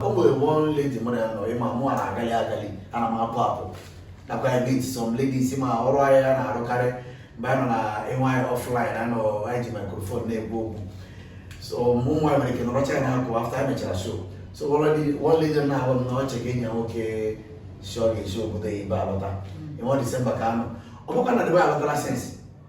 o nwere one lady mụ na ya nọ ị ma mụ na-agali agali ana m apụ apụ nakwa ya meet some ladies ma ọrụ ahịa ya na-arụkarị mgbe a nọ na ịnwe anyị offline anọ anyị ji microphone na-ekwu okwu so mụ nwa nwere ike nọrọcha ya na-akọ after anyị mechara show so one lady na-ahụ m na ọ cheke enyi ya nwoke sị ọ ga-esi obodo oyibo alọta n'ọnwa disemba ka anọ ọ bụkwa na debe alọtara since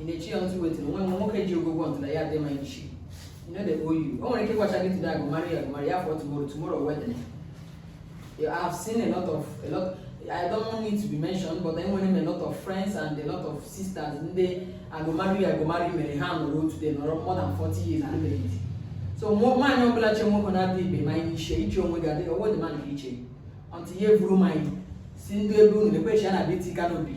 ị na-echi ya ntụ wetiri nwa nwa nwoke ji ogogwo ntụ na ya adị ma ichi he no dey owe you o nwere ike ịgwacha gị today I go marry you I go marry you for tomorrow tomorrow wedding I have seen a lot of a lot I don't want it to be mentioned but enwere m a lot of friends and a lot of sisters ndị I go marry I go marry mere ha nọrọ today nọrọ more than 40 years unmarried so nwaanyị ọbụla che nwoke na-adị ibe ma anyị iche iche onwe gị adịghị owe dị ma na iche until ya eburu mmanya si ndị ebe unu na-ekwechi ya na beti kanobi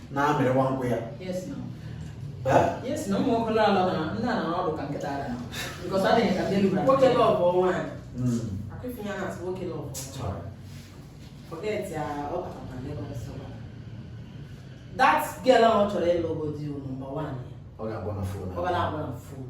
na-amịrịwa nkwụ ya that girl ahụ chọrọ ịlụ ogo di number one ọ ga-agba na phone